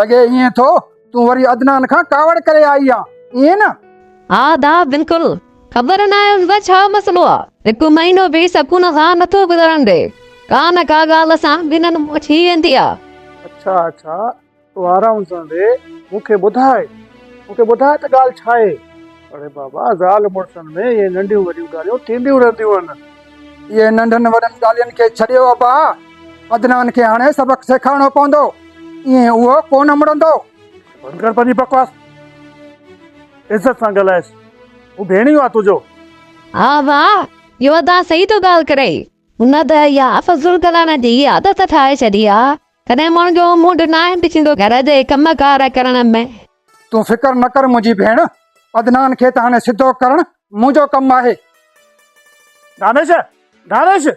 لڳي ائين ٿو تون وري عدنان کان ڪاوڙ ڪري آئي آن ائين نه؟ ها ادا بلڪل خبر ناهي ان سان ڇا مسئلو آ هڪ مهينو به سڪون سان نٿو گذرڻ ڏي ڪا نه ڪا ڳالهه سان ٻنهن ۾ ٿي ويندي آ. اڇا اڇا تون آرام سان ويهه مون کي ٻڌاء مون کي ٻڌاء ته ڳالهه ڇا آهي. اڙي بابا زال مڙسن ۾ ائين ننڍيون وڏيون ڳالهيون ٿينديون رهنديون آهن. اهي ننڍن وڏن ڳالهين کي ڇڏيو ابا، عدنان کي هاڻي سبق سيکارڻو پوندو، ائين اهو ڪو نه مڙندو. بند ڪر پنهنجي بڪواس، عزت سان ڳالهائيس، هو ڀيڻيو آ تنهنجو. ها ابا، يودا صحيح ٿو ڳالهه ڪري، هن ته اها فضول ڳالهائڻ جي عادت ٺاهي ڇڏي آ. تڏهن ماڻهن جو منهن ناهن ڏسيندو گهر جي ڪم ڪار ڪرڻ ۾. تون فڪر نه ڪر منهنجي ڀيڻ، عدنان کي ته هاڻي سڌو ڪرڻ منهنجو ڪم آهي. دانش! دانش!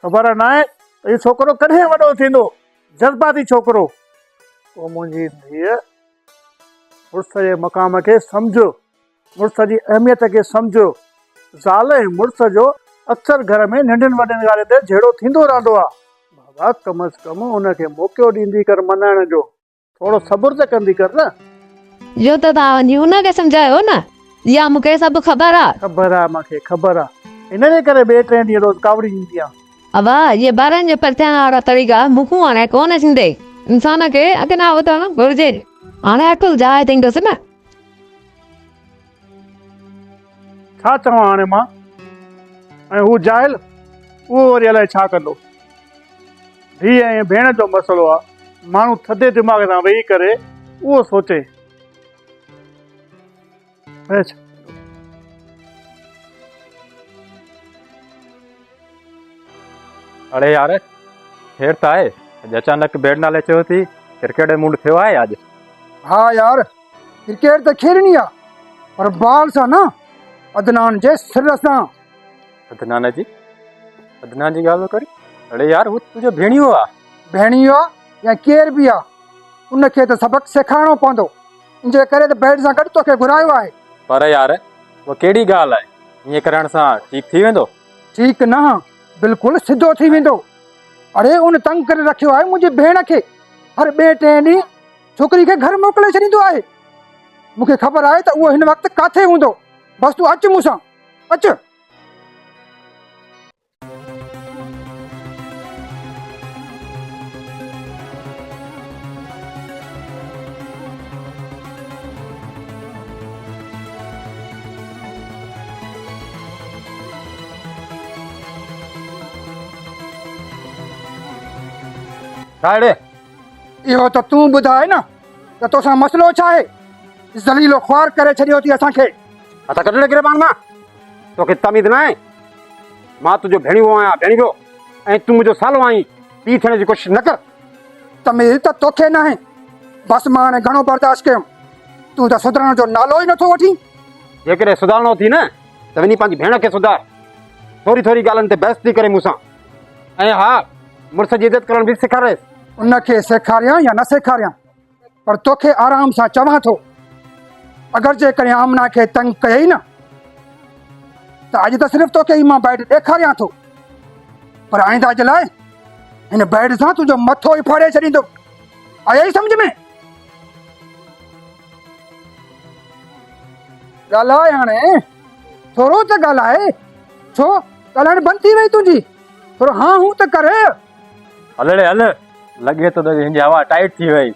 خبر ناهي ته هي ڇوڪرو ڪڏهن وڏو ٿيندو، جذباتي ڇوڪرو. تو منهنجي ڌيء مڙس جي مقام کي سمجهه. مڙس جي اهميت کي سمجهيو. زال ۽ مڙس جو اڪثر گهر ۾ ننڍين وڏين ڳالهين تي جهيڙو ٿيندو رهندو آ. بابا ڪم از ڪم ان کي موقعو ڏيندي ڪر مڃائڻ جو. ٿورو صبر ته ڪندي ڪر نه. جو ته تان وڃي ان کي سمجهايو نه. اها مون کي سڀ خبر آ. خبر آ مان کي خبر آ. ان جي ڪري ٻئي ٽئين ڏينهن روز ڪاوڙي ڏيندي آ. ابا اهي ٻارن جي پرچائڻ وارا طريقا مون کون هاڻي ڪونه ٿيندي. انسان کي اڳ نه اٿڻ گهرجي. هاڻي اٽل جاء ٿيندس نه. ڇا چوان هاڻي مان ۽ هو جاهل اهو وري الائي ڇا ڪندو. ڌيء ۽ ڀيڻ جو مسئلو آ ماڻهو ٿڌي دماغ سان ويهي ڪري اهو سوچي ته ڇا ڪندو. اڙي يار خير ته آهي؟ اڄ اچانڪ بيٽ نالي چيو ٿي ڪرڪيٽ جو موڊ ٿيو آهي اڄ؟ ها يار ڪرڪيٽ ته کيڏڻي آ پر بال سان نه عدنان جي سر سان. عدنان جي؟ عدنان جي ڳالهه پيو ڪرين؟ اڙي يار هو تنهنجو ڀيڻيو آ. ڀيڻيو آ يا ڪير به آ ان کي ته سبق سيکارڻو پوندو انجي ڪري ته بيٽ سان گڏ توکي گهرايو آهي. پر يار اها ڪهڙي ڳالهه آهي ائين ڪرڻ سان ٺيڪ ٿي ويندو؟ ٺيڪ نه بلڪل سڌو ٿي ويندو. اڙي ان تنگ ڪري رکيو آهي منهنجي ڀيڻ کي هر ٻئي ٽئين ڏينهن ڇوڪري کي گهر موڪلي ڇڏيندو آهي مون کي خبر آهي ته اهو هن وقت ڪاٿي هوندو بس تون اچ مون سان اچ ساهڙي اهو ته تون ٻڌاء نه ته توسان مسئلو ڇا آهي ذليلو خوار ڪري ڇڏيو اٿي اسان کي هٿ ڪڍ ڏي گريبان مان توکي تميز نه آهي مان تنهنجو ڀيڻيو آهيان ڀيڻيو ۽ تون منهنجو سالو آهين پي ٿيڻ جي ڪوشش نه ڪر تميز ته توکي ناهي بس مان هاڻي گهڻو برداشت ڪيم تون ته سڌرڻ جو نالو ئي نٿو وٺين جيڪڏهن سڌرڻو اٿي نه ته وڃي پنهنجي ڀيڻ کي سڌار. ٿوري ٿوري ڳالهين تي بحث ٿي ڪري مون سان. ۽ ها، مڙس جي عزت ڪرڻ به سيکاريس. ان کي سيکاريان يا نه سيکاريان، پر توکي آرام سان چوان ٿو، اگر جيڪڏهن آمنه کي تنگ ڪيئي نه، ته اڄ ته صرف توکي ئي مان بيڊ ڏيکاريان ٿو، پر آئنده جي لاء هن بيڊ سان تنهنجو مٿو ئي ڦاڙي ڇڏيندو. آيئي سمجهه ۾؟ ڳالهاء هاڻي ٿورو ته ڳالهاء ڇو ڳالهائڻ بند ٿي وئي تنهنجي ٿورو هان هون ته ڪر هلڙي هل لڳي ٿو ته هن جي هوا ٽائيٽ ٿي وئي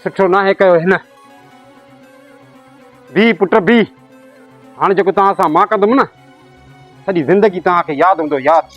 سٺو ناهي ڪيو هن بي پٽ بي هاڻي جيڪو توهان سان مان ڪندم نه سڄي زندگي توهان کي ياد هوندو ياد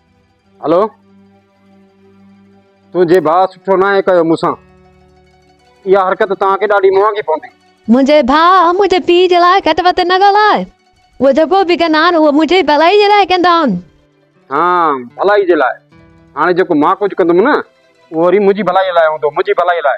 هلو تنهنجي ڀاء سٺو ناهي ڪيو مون سان اها حرڪت توهان کي ڏاڍي مهانگي پوندي منهنجي ڀاء منهنجي پيء جي لاء گهٽ وڌ نه ڳالهاء هو جيڪو به ڪندا آهن اهو منهنجي ڀلائي جي لاء ڪندا آهن ها ڀلائي جي لاء هاڻي جيڪو مان ڪجهه ڪندم نه اهو وري منهنجي ڀلائي لاء هوندو منهنجي ڀلائي لاء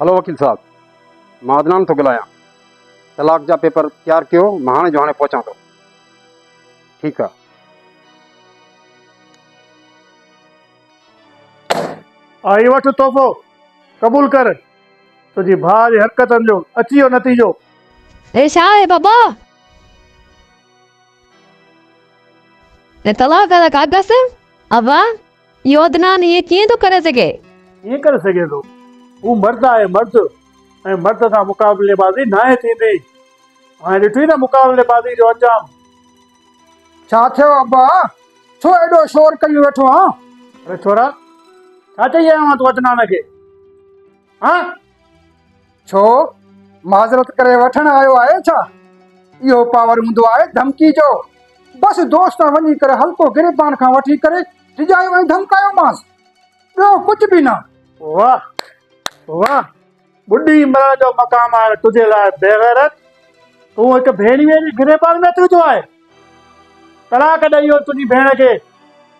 هلو وڪيل صاحب مان عدنان ٿو ڳالهايان طلاق جا پيپر تيار ڪيو مان هاڻي جو هاڻي پهچان ٿو ٺيڪ آ آ هي وٺ تحفو قبول ڪر تنهنجي ڀاء جي حرڪتن جو اچي ويو نتيجو. هي ڇا آهي بابا؟ هي طلاق جا ڪاغذ؟ ابا! اهو عدنان ائين ڪيئن ٿو ڪري سگهي؟ ڪيئن ڪري سگهي ٿو؟ هو مرد آهي مرد ۽ مرد سان مقابلي بازي ناهي ٿيندي. هاڻي ڏٺوئي نه مقابلي بازي جو انجام. ڇا ٿيو ابا؟ ڇو ايڏو شور ڪيون ويٺو آن؟ اڙي ڇورا! ڇا چئي آيو آن تون عدنان کي؟ هان؟ ڇو معذرت ڪري وٺڻ آيو آهي ڇا؟ اهو پاور هوندو آهي ڌمڪي جو. بس دوست وڃي ڪري هلڪو گريبان کان وٺي ڪري ڊڄايو ۽ ڌمڪايومانس. ٻيو ڪجهه به نه. واه واه ٻڏي مرڻ جو مقام آهي تنهنجي لاء بيغيرت. تون هڪ ڀيڻيء جي گريبان ۾ اچي ويٺو آهين. طلاق ڏئي اهو تنهنجي ڀيڻ کي.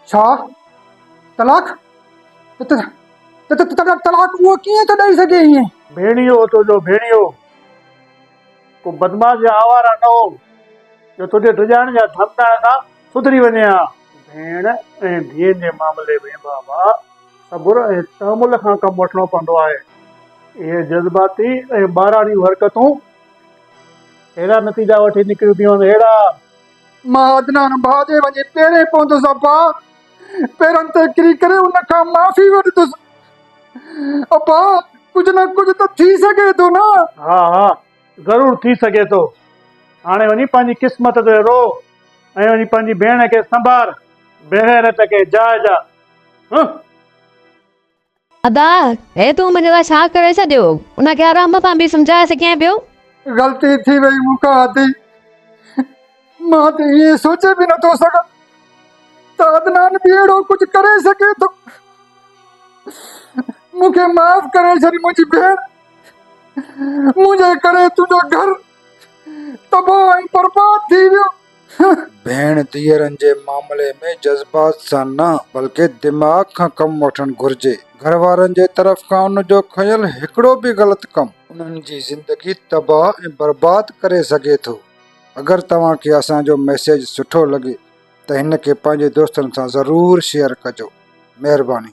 ڇا؟ طلاق؟ طلاق اهو ڪيئن ٿو ڏئي سگهي ائين؟ ڀيڻيو هو تنهنجو ڀيڻيو. ڪو بدمعاش يا آواره نه هو، جو تنهنجي ڊڄائڻ يا ڌمڪائڻ سان سڌري وڃي ها. ڀيڻ ۽ ڌيء جي معاملي ۾ بابا، صبر ۽ تحمل کان ڪم وٺڻو پوندو آهي. اهي جذباتي ۽ ٻاراڻيون حرڪتون اهڙا نتيجا وٺي نڪريون ٿيون هن اهڙا. مان عدنان ڀاء جي وڃي پيرين پوندس ابا پيرن تي ڪري ڪري ان کان معافي وٺندس ابا ڪجهه نه ڪجهه ته ٿي سگهي ٿو نه. ها ها ضرور ٿي سگهي ٿو هاڻي وڃي پنهنجي قسمت تي رو ۽ وڃي پنهنجي ڀيڻ کي سنڀار بيغيرت کي جاء جاء هه. ادا هي تون منهنجي لاء ڇا ڪري ڇڏيو؟ ان کي آرام سان به سمجهائي سگهين پيو. غلطي ٿي وئي مون کان ادي. مان ته ائين سوچي به نٿو سگهان ته عدنان به اهڙو ڪجهه ڪري سگهي ٿو. مون کي معاف ڪري ڇڏ منهنجي ڀيڻ. منهنجي ڪري تنهنجو گهر تباهه ۽ برباد ٿي ويو. ڀيڻ ڌيئرن جي معاملي ۾ جذبات سان نه بلڪه دماغ کان ڪم وٺڻ گهرجي. گهر وارن جي طرف کان ان جو کنيل هڪڙو به غلط ڪم انهن جي زندگي تباهه ۽ برباد ڪري سگهي ٿو. اگر توهان کي اسان جو ميسيج سٺو لڳي ته هن کي پنهنجي دوستن سان ضرور شيئر ڪجو. مهرباني.